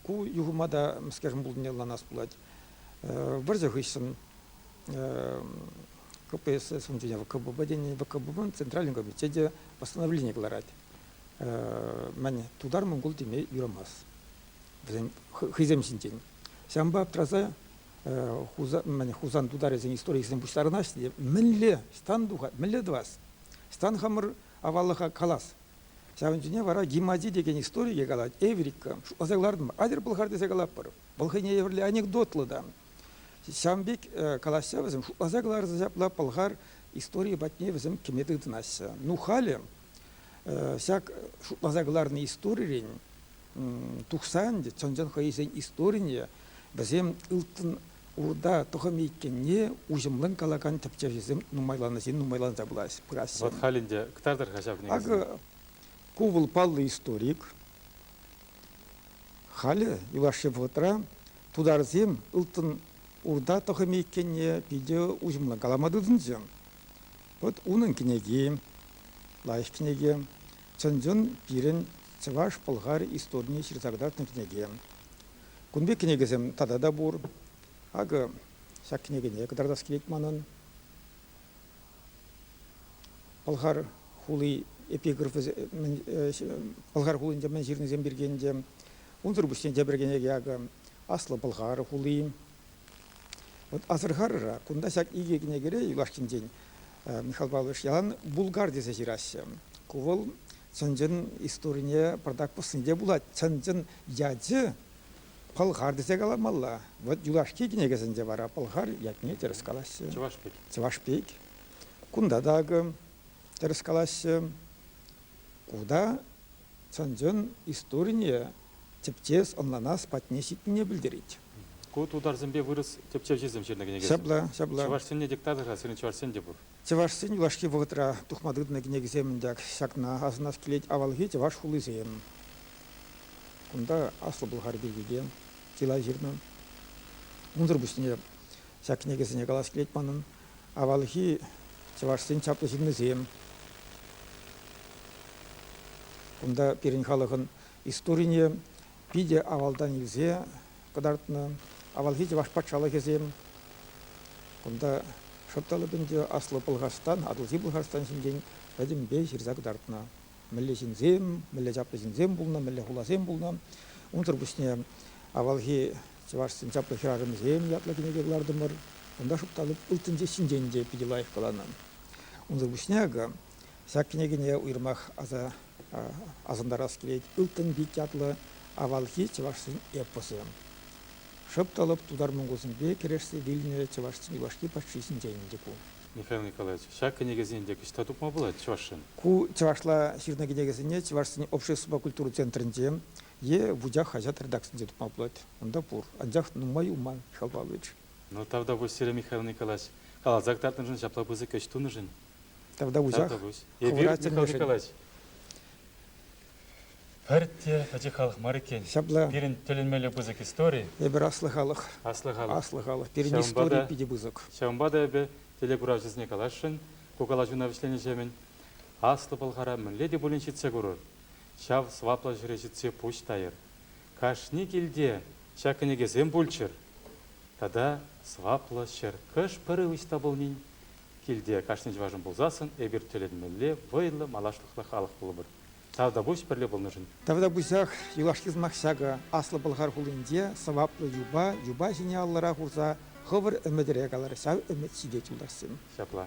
Ку юхӑма та, мӗскершӗн пулнине ӑнланас пулать. Вӑрҫӑ хыҫҫӑн КПСС унччен ВКББ тени, ВКББӑн центральный комитечӗ те постановлени кӑларать. Мӗн, тутар-монгол теме юрамасть вӗсен хӑйсем ҫинчен. Ҫавӑнпа аптраса Хусан тутарӗсен историйӗсем пуҫтарӑнаҫҫӗ те мӗнле ҫтан тухать, мӗнле тӑвас? Ҫтан хамӑр аваллӑха калас, Ҫавӑн ҫине вара Гимади текен историе калать. Эврика. Аса кӑлартӑм. Атьӑр пӑлхар тесе калатпӑр. Вӑл хӑйне евӗрлӗ анекдотлӑ та. Ҫавӑн пек калаҫса вӗсем шутласа кӑларса ҫапла пӑлхар историйӗ патне вӗсем кӗме тытӑнаҫҫӗ. Ну, халӗ ҫак шутласа кӑларнӑ историрен тухсан чӑн-чӑн хӑйсен историне, вӗсем ылтӑн урда тӑхӑмӗ иккенне уҫӑмлӑн калакан тӗпчевҫӗсем нумайланӑҫен нумайланса пыраҫҫӗ. Вот халь ӗнтӗ кӑтартӑр-ха ҫав кӗнекесене. Акӑ, ку вӑл паллӑ историк. Халӗ юлашки вӑхӑтра тутарсем ылтӑн урда тӑхӑмӗ иккенне питӗ уҫӑмлӑн калама тытӑнчӗ. Вот унӑн кӗнеки, лайӑх кӗнеке. Чӑн-чӑн пирӗн чӑваш-пӑлхар историне ҫырса кӑтартнӑ кӗнеке. Кун пек кӗнекесем тата та пур. Акӑ, ҫак кӗнекене кӑтартас килет манӑн. Пӑлхар хули эпиграфӗ, Пӑлхар хулинче мӗн ҫырнисем пирки ӗнтӗ. Унсӑр пуҫне тепӗр кӗнеке акӑ, Аслӑ Пӑлхар хули. Вот асӑрхарӑра кунта ҫак икӗ кӗнекере юлашкинчен Михаил Павлович ялан Булгар тесе ҫыраҫҫӗ. Ку вӑл чӑн-чӑн историне пӑртак пӑснинче пулать. Чӑн-чӑн ячӗ Пӑлхар тесе каламалла. Вот юлашки кӗнекесенче вара Пӑлхар ятне тӗрӗс калаҫҫӗ. Чӑваш пек. Чӑваш пек. Кунта та акӑ тӗрӗс калаҫҫӗ. Ку та чӑн-чӑн историне тӗпчес, ӑнланас патне ҫитнине пӗлтерет. Ку тутарсемпе вырӑс тӗпчевҫисем ҫырнӑ кӗнекесем. Ҫапла, ҫапла. Чӑвашсене диктатор-ха, сирӗн чӑвашсем те пур. Чӑвашсен юлашки вӑхӑтра тухма тытӑннӑ кӗнекисем ак ҫакна асӑнас килет, авалхи чӑваш хулисем. Кунта Аслӑ Пӑлхар пирки те чылай ҫырнӑ. Унсӑр пуҫне ҫак кӗнекесене калас килет манӑн. авалхи чӑвашсен чаплӑ ҫыннисем. Кунта пирӗн халӑхӑн историне питӗ авалтан илсе кӑтартнӑ авалхи чӑваш патшалӑхӗсем. Кунта шӑртталӑп ӗнтӗ Аслӑ Пӑлхарстан, Атӑлҫи Пӑлхарстан ҫинчен пӗтӗмпе ҫырса кӑтартнӑ. Мӗнле ҫынсем, мӗнле чаплӑ ҫынсем пулнӑ, мӗнле хуласем пулнӑ. Унсӑр пуҫне авалхи Чӑвашсен чаплӑ хӗрарӑмӗсем ятлӑ кӗнеке кӑлартӑмӑр. Кунта шупталӑк ылтӑнчи ҫинчен те питӗ лайӑх каланӑ. Унсӑр пуҫне акӑ ҫак кӗнекене уйрӑмах аса асӑнтарас килет Ылтӑн пит ятлӑ авалхи чӑвашсен эпосӗ. Шӑп та лӑп тутар-монголсемпе кӗрешсе вилнӗ чӑвашсен юлашки патши ҫинчен те ку. Михаил Николаевич, ҫак кӗнекесене ӗнтӗ ӑҫта тупма пулать чӑвашсен? Ку чӑвашла ҫырнӑ кӗнекесене Чӑвашсен обществӑпа культура центрӗнче Е вучах хаҫат редакцинче тупма пулать, унта пур. Анчах нумай юлман, Михаил Павлович. Ну, Тавтапуҫ, Сергей Михайлович калаҫ. Каласа кӑтартнӑшӑн ҫапла пысӑк ӗҫ тунӑшӑн. Тавтапуҫах. Тавтапуҫ. Эпир, Михаил Николаевич, пӗртте пӗчӗк халӑх мар иккен. Ҫапла. Пирӗн тӗлӗнмелле пысӑк истори. Эпир аслӑ халӑх. Аслӑ халӑх. Аслӑ халӑх. Пирӗн истори питӗ пысӑк. Ҫавӑнпа та эпӗ телекуравҫӑсене каласшӑн, ку калаҫуна вӗҫленӗҫемӗн Аслӑ Пӑлхара мӗнле те пулин ҫитсе курӑр. ҫав сӑваплӑ ҫӗре ҫитсе пуҫ тайӑр. Кашни килте ҫак кӗнекесем пулччӑр тата сӑваплӑ ҫӗр хӑш-пӗр ӑҫта пулнин, килте кашни чӑвашӑн пулсассӑн эпир тӗлӗнмелле вӑйлӑ малашлӑхлӑ халӑх пулӑпӑр Тавтапуҫ пӗрле пулнӑшӑн! Тавтапуҫах, юлашки сӑмах ҫакӑ, Аслӑ Пӑлхар хулинче сӑваплӑ юпа юпа ҫине аллӑра хурса хӑвӑр ӗмӗтӗре калӑр, ҫав ӗмӗт ҫитет, юлташсем! Ҫапла.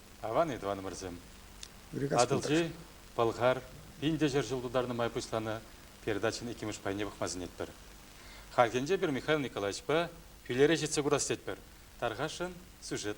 Аван тӑванӑмӑрсем. Атӑлҫи, Пӑлхар, пин те ҫӗр ҫул тутарнӑ май пуҫланӑ передачӑн иккӗмӗш пайне пӑхма сӗнетпӗр. Хальхинче пӗр Михаил Николаевичпа Пӳлере ҫитсе курас тетпӗр. Тархасшӑн, сюжет.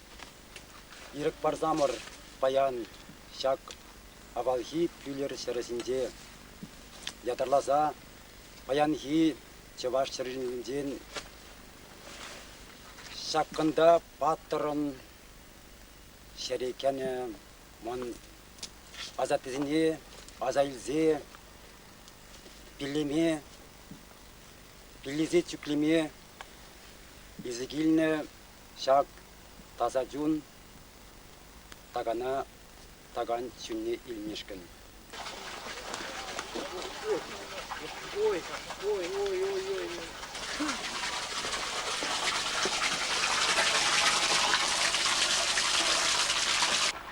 Ирӗк парсамӑр паян ҫак авалхи Пӳлер ҫӗрӗсенче ятарласа паянхи чӑваш чӗринчен ҫаккунта паттӑрӑн ҫӗре кӗнӗ мӑн асаттесене аса илсе пиллеме, пиллесе чӳклеме илсе килнӗ ҫак таса чун такана такан чунне илмешкӗн. Ой, ой, ой, ой, ой.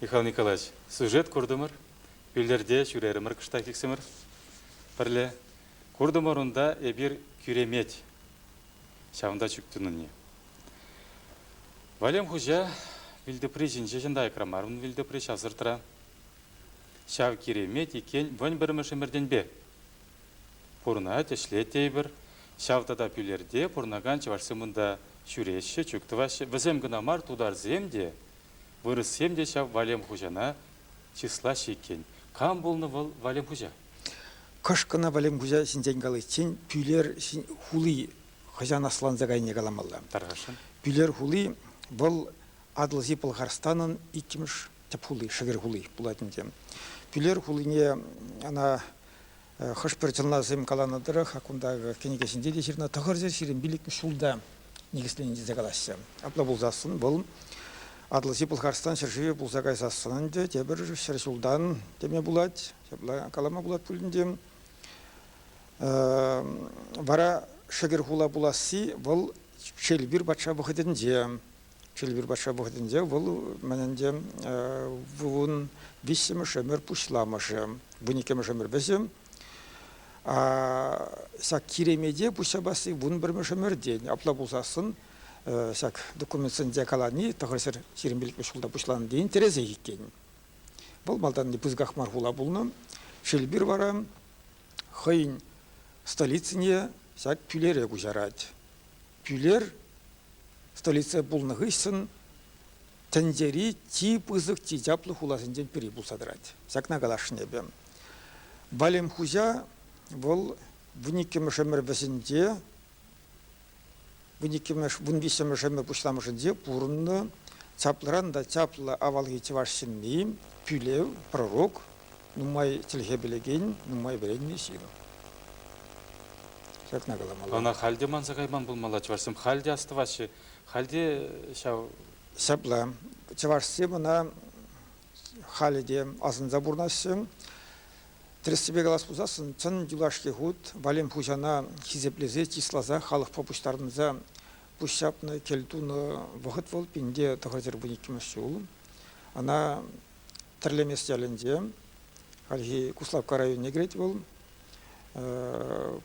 Михаил Николаевич, сюжет куртӑмӑр, Пӳлерте ҫӳрерӗмӗр кӑштахиксӗмӗр пӗрле. Куртӑмӑр унта эпир кӳремет. Ҫавӑнта чӳк тунине. Валем хуҫа вилтӑпри ҫинче ҫынта айкра мар ун вилтӑпри ҫавсӑртра. Ҫав киремет иккен вӑн пӗрмӗш ӗмӗртенпе. Пурӑнать, ӗҫлет тейпӗр. Ҫав тата Пӳлерте пурӑнакан чӑвашсем унта ҫӳреҫҫӗ, чӳк тӑваҫҫӗ. Вӗсем кӑна мар, тутарсем те, вырӑссем те ҫав Валем хуҫана чыслаҫҫӗ иккен. Кам пулнӑ вӑл Валем хуҫа? Кӑшкӑна Валем хуҫа ҫинчен каличчен Пӳлер хули хӑҫан асланса кайнине каламалла. Тархасшӑн. Пӳлер хули вӑл Атӑлҫи Пӑлхарстанӑн иккӗмӗш тӗп хули, шӗвер хули пулать ӗнтӗ. Пӳлер хулине ӑна Хӑш-пӗр чӑнласем каланӑ тӑрӑх, кунта кӗнеке ҫинче те ҫырнӑ, тӑхӑрҫӑ ҫирӗм пилӗк ҫулта никӗсленӗ тесе калаҫҫӗ. Апла пулсассӑн вӑл Атӑлҫи Пӑлхарстан ҫӗршывӗ пулса кайсассӑн ӗнтӗ тепӗр ҫӗр ҫултан теме пулать, ҫапла калама пулать пулин те. Вара шӗкӗр хула пуласси вӑл Челпир патша вӑхӑтӗнче Чулбир патша вӑхӑтӗнче вӑл мӗн ӗнтӗ вун виҫҫӗмӗш ӗмӗр пуҫламӑшӗ, вун иккӗмӗш ӗмӗр вӗҫӗ. Ҫак Киремете пуҫҫапасси вун пӗрмӗш ӗмӗртен апла пулсассӑн ҫак документсенче калани тӑхӑрҫӗр ҫирӗмпиллӗкмӗш ҫулта пуҫланнӑ интересех иккен. Вӑл малтанхи пысӑках мар хула пулнӑ. Шилбир вара хӑйӗн столицине ҫак тӳлере куҫарать. Пӳлер столица пулнӑ хыҫҫӑн тӗнчери чи пысӑк, чи чаплӑ хуласенчен пӗри пулса тӑрать. Ҫакна каласшӑн эпӗ. Валем хуҫа вӑл вун иккӗмӗш ӗмӗр вӗҫӗнче, вун иккӗмӗш, вун виҫҫӗмӗш ӗмӗр пуҫламӑшӗнче пурӑннӑ чаплӑран та чаплӑ авалхи чӑваш ҫынни, пӳлев, пророк, нумай чӗлхе пӗлекен, нумай вӗреннӗ ҫыру. Ҫакна каламалла. Ӑна халь те манса кайман пулмалла, чӑвашсем халь те астӑваҫҫӗ. Халь те ҫав... Ҫапла, чӑвашсем ӑна халӗ те асӑнса пурӑнаҫҫӗ. Тӗрӗссипе калас пулсассӑн, чӑн юлашки хут Валем хуҫана хисеплесе, чысласа, халӑхпа пуҫтарӑнса пуҫҫапнӑ, кӗл тунӑ вӑхӑт вӑл пин те тӑхӑр пин иккӗмӗш ҫул. Ӑна Тӗрлемес ялӗнче, хальхи Куславкка районне кӗрет вӑл,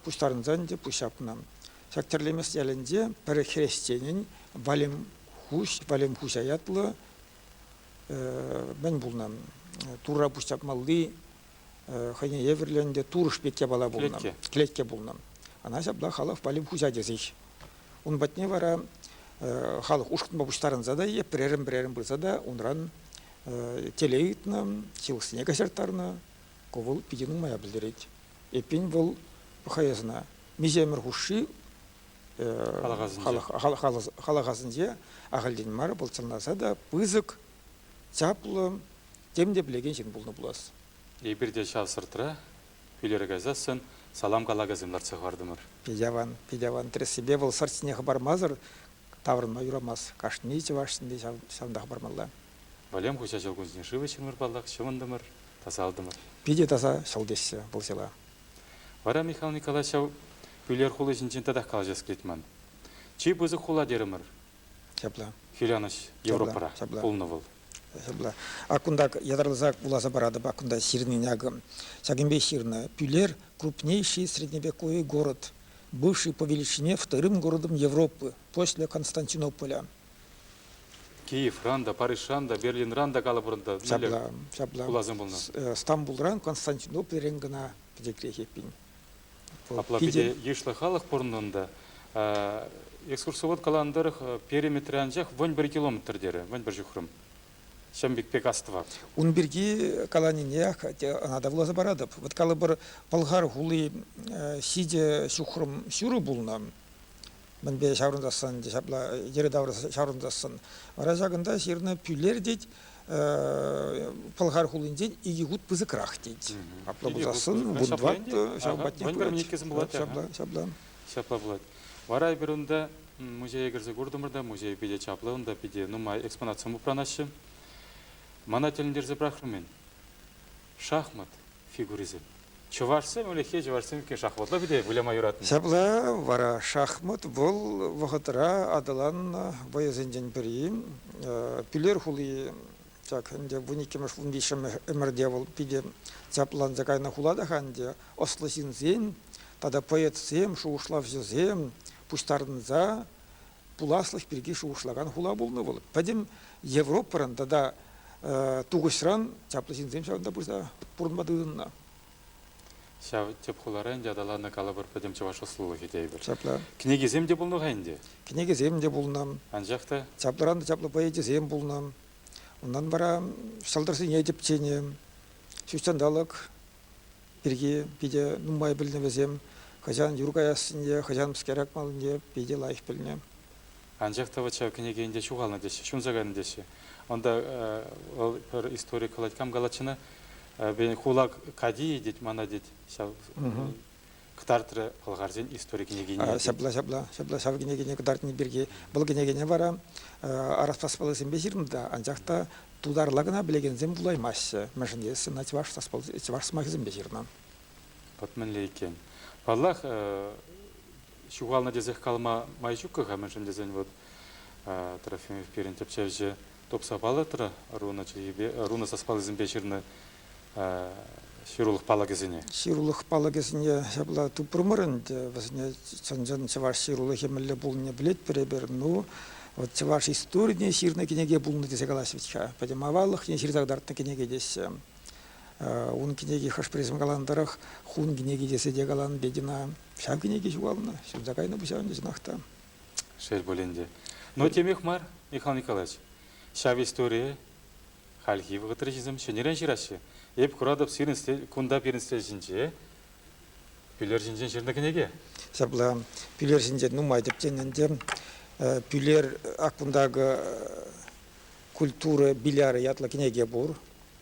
пуҫтарӑнсан ӗнтӗ пуҫ ҫапнӑ. Ҫак Тӗрлемес ялӗнче пӗр хресченӗн Валемхуҫ, Валемхуҫа ятлӑ мӗн пулнӑ, Турра пуҫ ҫапмалли хӑйне евӗрлӗ ӗнтӗ турӑш пек япала пулнӑ. Клетке пулнӑ. Ана ҫапла халӑх валли хуҫа тесех. Ун патне вара халӑх ушкӑнпа пуҫтарӑнса та, пӗрерӗн-пӗрерӗн пырса та унран телей ыйтнӑ, ҫылӑхсене каҫарттарнӑ. Ку вӑл питӗ нумая пӗлтерет. Эппин, вӑл хӑй ӑсына миҫемӗр хушши халӑхасенче, халӑхасенче ахальтен мар пӑлчӑнласа та пысӑк чаплӑ, тем те пӗлекен ҫын пулнӑ пулас. Эпир те ҫав сӑртра пӳлере кайсассӑн салам калакасем лартса хӑвартӑмӑр. Питӗ аван, питӗ аван. Тӗрӗссипе вӑл сӑрт ҫине хӑпармасӑр таврӑнма юрамасть. Кашни чӑваш ҫынни ҫавӑнта хӑпармалла. Валем хуҫа ҫӑл кунсен шывӗ ҫыннӑр паллах ҫӑвӑнтӑмӑр, тасалтӑмӑр. Питӗ таса ҫӑл теҫҫӗ вӑл ҫӑла. Вара Михал Николаевич ҫав пӳлер хули ҫинчен татах калаҫас килет ман. Чи пысӑк хула терӗмӗр. Ҫапла. Хӳрянӑҫ Европӑра ҫапла. пулнӑ вӑл. Ҫапла. Ак кунта ятарласа вуласа паратӑп, ак кунта ҫырнин акӑ ҫакӑнпе ҫырнӑ. Пӳлер – крупнейший средневековый город, бывший по величине вторым городом Европы после Константинополя. Киевран та, Парижран та, Берлинран та калӑпӑр та. Ҫапла, ҫапла. Пуласем пулнӑ. Стамбулран Константинопольрен кӑна пӗтеклех эппин. Апла питӗ йышлӑ халӑх пурӑннӑ унта. Экскурсовод каланӑ тӑрӑх периметре анчах вӑн пӗр километр терӗ, вӑн пӗр ҫухрӑм. Ҫӑм пек пек астӑва. Ун пирки каланине ӑна та вуласа паратӑп. Вот калӑпӑр, Пӑлхар хули ҫичӗ ҫухрӑм ҫурӑ пулнӑ. мӗнпе ҫаврӑнсассӑн ҫапла йӗри-тавра ҫаврӑнсассӑн. Вара ҫакӑнта ҫырнӑ Пӳлер тет Пӑлхар хулинчен икӗ хут пысӑкрах тет. Апла пулсассӑн вундват ҫав патне пырать. Ҫапла, ҫапла. Ҫапла пулать. Вара эпир унта музее кӗрсе куртӑмӑр та музей питӗ чаплӑ, унта питӗ нумай экспонатсем упранаҫҫӗ. Мана тӗлӗнтерсе пӑрахрӑм-и? Шахмат фигурисем. Чӑвашсем ӗлӗкхи чӑвашсем иккен шахматла пире выляма юратнӑ. Ҫапла вара шахмат вӑл вӑхӑтра аталаннӑ вӑйӑсенчен пӗри. Пӳлер хули ҫак ӗнтӗ вун иккӗмӗш-вун виҫҫӗмӗш ӗмӗрте вӑл питӗ чапланса кайнӑ хулата-ха ӗнтӗ. Ӑслӑ ҫынсен тата поэтсем, шухӑшлавҫӑсем пуҫтарӑнса пуласлӑх пирки шухӑшлакан хула пулнӑ вӑл. Пӗтӗм Европӑран тата тухӑҫран чаплӑ ҫынсем ҫавӑнта пырса пурӑнма тытӑннӑ. Ҫав тӗп хулара ӗнтӗ аталаннӑ калӑпӑр пӗтӗм чӑваш ӑслӑлӑхӗ тейпӗр. Чапла. Кӗнекесем те пулнӑ-ха ӗнтӗ. Кӗнекесем те пулнӑ. Анчах та. Чаплӑран чаплӑ поэчӗсем пулнӑ. Унтан вара ҫӑлтӑрсене тӗпченӗ. Ҫутҫанталӑк пирки питӗ нумай пӗлнӗ вӗсем. Хӑҫан юр каяссине, хӑҫан мӗскер акмаллине питӗ лайӑх пӗлнӗ. Анчах та вӑт ҫав кӗнеке ӗнтӗ ҫухалнӑ теҫҫӗ, ҫунса кайнӑ теҫҫӗ. Унта вӑл пӗр историк калать, кам калатчӗ-ӑна? Хула кадийӗ тет, мана тет, ҫав кӑтартрӗ пӑлхарсен истори кӗнекине. Ҫапла, ҫапла, ҫапла ҫав кӗнекене кӑтартни пирки. Вӑл кӗнекене вара Араспас паллисемпе ҫырнӑ та, анчах та Тутарла кӑна пӗлекенсем вулаймаҫҫӗ, мӗншӗн тесен ӑна чӑваш, чӑваш сӑмахӗсемпе ҫырнӑ. Вӑт мӗнле иккен. Паллах, ҫухалнӑ тесех калама май ҫук-ха, мӗншӗн тесен вӑт Трофимов пирӗн тӗпчевҫӗ тупса палӑртрӗ, руна чӗлхипе, руна саспаллисемпе ҫырнӑ ҫырулӑх палӑкӗсене? Ҫырулӑх палӑкӗсене ҫапла тупрӑмӑр ӗнтӗ. Вӗсене чӑн-чӑн чӑваш ҫырулӑхӗ мӗнле пулнине пӗлетпӗр эпир. Ну, вот чӑваш историйӗ ҫырнӑ кӗнеке пулнӑ тесе калаҫҫӗ-ха. Пӗтӗм аваллӑхне ҫырса кӑтартнӑ кӗнеке теҫҫӗ. Ун кӗнеки хӑш призм каланӑ тӑрӑх хун кӗнеки тесе те каланӑ Петина. Ҫав кӗнеке ҫухалнӑ, ҫунса кайнӑ пуҫа ӗнтӗ чӑнах та. Шел пулин те. Но темех мар, Михаил Николаевич, ҫав историе Хальхи вӑхӑтра ҫисем ҫӗнӗрен ҫыраҫҫӗ. Эп куратӑп, сирӗн стель, кунта пирӗн стель ҫинче Пӳлер ҫинчен ҫырнӑ кӗнеке. Ҫапла, Пӳлер ҫинче нумай тӗпченӗ ӗнтӗ. Пӳлер аккунда культура билярӗ ятлӑ кӗнеке пур.